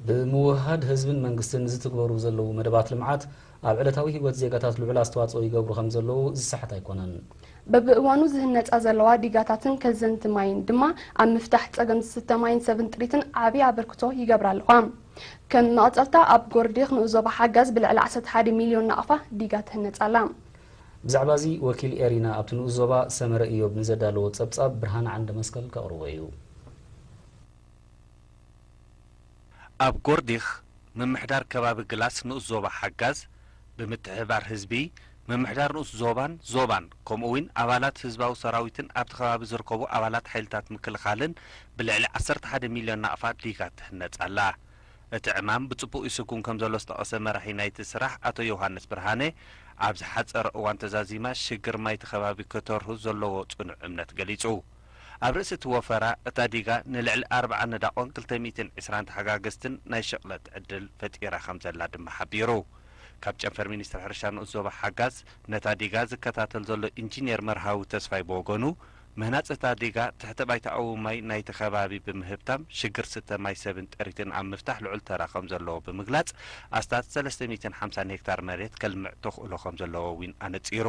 ብምውህሃድ ህዝብን መንግስትን ዝትግበሩ ዘለዉ መደባት ልምዓት ኣብ ዕለታዊ ህይወት ዜጋታት ልዑል ኣስተዋፅኦ ይገብሩ ከምዘለዉ ዝሰሓት ኣይኮነን። በብእዋኑ ዝህነፃ ዘለዋ ዲጋታትን ከዘንቲ ማይን ድማ ኣብ ምፍታሕ ፀገም ዝስተ ማይን ሰብን ጥሪትን ዓብዪ ኣበርክቶ ይገብራ ኣለዋ። ከም መቐፀልታ ኣብ ጎርዲክ ንኡስ ዞባ ሓጋዝ ብልዕሊ ዓሰርተ ሓደ ሚልዮን ናቕፋ ዲጋ ትህነፅ ኣላ። ብዛዕባ እዚ ወኪል ኤሪና ኣብቲ ንኡስ ዞባ ሰመረ ኢዮብ ንዘዳለዎ ፀብፃብ ብርሃነ ዓንደመስቀል ከቕርቦ እዩ። ኣብ ጎርዲክ ምምሕዳር ከባቢ ግላስ ንኡስ ዞባ ሓጋዝ ብምትሕብባር ህዝቢ ምምሕዳር ንኡስ ዞባን ዞባን ከምኡ እውን ኣባላት ህዝባዊ ሰራዊትን ኣብቲ ከባቢ ዝርከቡ ኣባላት ሓይልታት ምክልኻልን ብልዕሊ ዓሰርተ ሓደ ሚልዮን ናቕፋ ዲጋ ትህነፅ ኣላ። እቲ ዕማም ብፅቡቕ ይስጉም ከምዘሎ ዝጠቐሰ መራሒ ናይቲ ስራሕ ኣቶ ዮውሃንስ ብርሃነ ኣብ ዝሓፀረ እዋን ተዛዚማ ሽግር ማይ እቲ ከባቢ ከተርሁ ዘለዎ ፅኑዕ እምነት ገሊፁ። ኣብ ርእሲ እቲ ወፈራ፣ እታ ዲጋ ንልዕሊ ኣርብዓ ነዳቖን ክልተ ሚእትን ዕስራን ተሓጋገዝትን ናይ ሽቕለት ዕድል ፈጢራ ከምዘላ ድማ ሓቢሩ። ካብ ጨንፈር ሚኒስትሪ ሕርሻ ንኡስ ዞባ ሓጋዝ ነታ ዲጋ ዝከታተል ዘሎ ኢንጂኔር መርሃዊ ተስፋይ ብወገኑ፣ ምህናጽ እታ ዲጋ ትሕተ ባይታኣዊ ማይ ናይቲ ከባቢ ብምህብታም ሽግር ስተ ማይ ሰብን ጥሪትን ኣብ ምፍታሕ ልዑል ተራ ከምዘለዎ ብምግላጽ ኣስታት ሰለስተ ሚእትን ሓምሳን ሄክታር መሬት ከልምዕ ተኽእሎ ከምዘለዎ'ዊን ኣነጺሩ።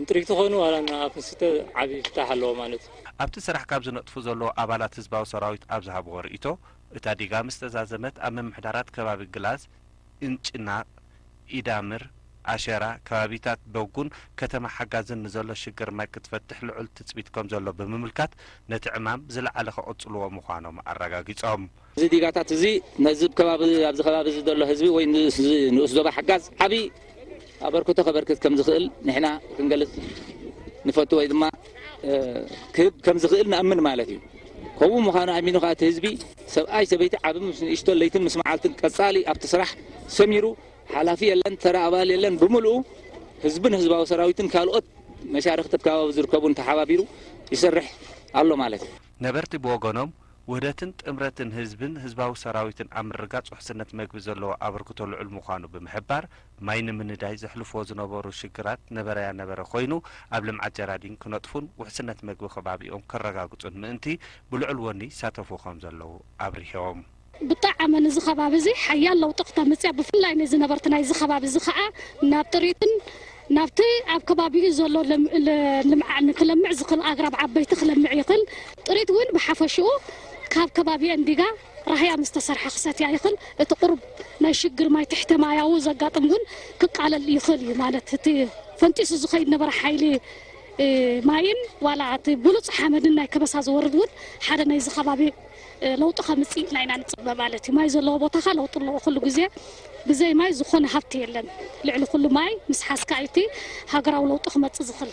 እንትሪግ ተኾኑ ዋላ እና ኣፍ ምስተ ዓቢ ፍታሕ ኣለዎ ማለት እዩ። ኣብቲ ስራሕ ካብ ዝነጥፉ ዘለዉ ኣባላት ህዝባዊ ሰራዊት ኣብ ዝሃብዎ ርእይቶ፣ እታ ዲጋ ምስ ተዛዘመት ኣብ ምምሕዳራት ከባቢ ግላዝ፣ እንጭና፣ ኢዳምር፣ ኣሸራ፣ ከባቢታት ዶጉን ከተማ ሓጋዝን ንዘሎ ሽግር ማይ ክትፈትሕ ልዑል ትጽቢት ከምዘሎ ብምምልካት ነቲ ዕማም ብዝለዓለ ከቕጽልዎ ምዃኖም ኣረጋጊጾም። እዚ ዲጋታት እዚ ነዚ ከባቢ ኣብዚ ከባቢ እዚ ዘሎ ህዝቢ ወይ ንዚ ንኡስ ዞባ ሓጋዝ ዓቢ ኣበርክቶ ከበርክት ከም ዝኽእል ንሕና ክንገልጽ ንፈቱ ወይ ድማ ክህብ ከም ዝኽእል ንኣምን ማለት እዩ። ከምኡ ምዃኑ ኣሚኑ ከኣ እቲ ህዝቢ ሰብኣይ ሰበይቲ ዓቢ ምስ ንእሽቶ ለይትን ምስ መዓልትን ቀጻሊ ኣብቲ ስራሕ ሰሚሩ ሓላፊ የለን ተራ ኣባል የለን ብምልኡ ህዝብን ህዝባዊ ሰራዊትን ካልኦት መሻርኽቲ ኣብ ከባቢ ዝርከቡን ተሓባቢሩ ይሰርሕ ኣሎ ማለት እዩ። ነበርቲ ብወገኖም ውህደትን ጥምረትን ህዝብን ህዝባዊ ሰራዊትን ኣብ ምርግጋፅ ውሕስነት መግቢ ዘለዎ ኣበርክቶ ልዑል ምዃኑ ብምሕባር፣ ማይ ንምንዳይ ዘሕልፉዎ ዝነበሩ ሽግራት ነበረያ ነበረ ኮይኑ ኣብ ልምዓት ጀራዲን ክነጥፉን ውሕስነት መግቢ ከባቢኦም ከረጋግፁን ምእንቲ ብልዑል ወኒ ይሳተፉ ከምዘለዉ ኣብሪሆም። ብጣዕሚ ንዚ ከባቢ እዚ ሓያል ለውጢ ክተምፅእ እያ ብፍላይ ንዚ ነበርቲ ናይዚ ከባቢ እዚ ከዓ ናብ ጥሪትን ናብቲ ኣብ ከባቢኡ ዘሎ ልምዓ ንክለምዕ ዝኽል ኣግራብ ዓበይቲ ክለምዕ ይኽል። ጥሪት እውን ብሓፈሽኡ ካብ ከባቢኤን ዲጋ ራህያ ምስ ተሰርሐ ክሰትያ ይኽል። እቲ ቁሩብ ናይ ሽግር ማይ ትሕተ ማያዊ ዘጋጥም እውን ክቃለል ይኽል እዩ። ማለት እቲ ፈንጢሱ ዝኸይድ ነበረ ሓይሊ ማይን ዋላ እቲ ብሉጽ ሓመድን ናይ ከበሳ ዝወርድ እውን ሓደ ናይዚ ከባቢ ለውጢ ከምፅእ ኢልና ኢና ንፅበ ማለት እዩ። ማይ ዘለዎ ቦታ ከ ለውጢ ኣለዎ ኩሉ ግዜ። ብዘይ ማይ ዝኾነ ሃፍቲ የለን። ልዕሊ ኩሉ ማይ ምስ ሓዝካ እዩ እቲ ሃገራዊ ለውጢ ክመፅእ ዝኽል።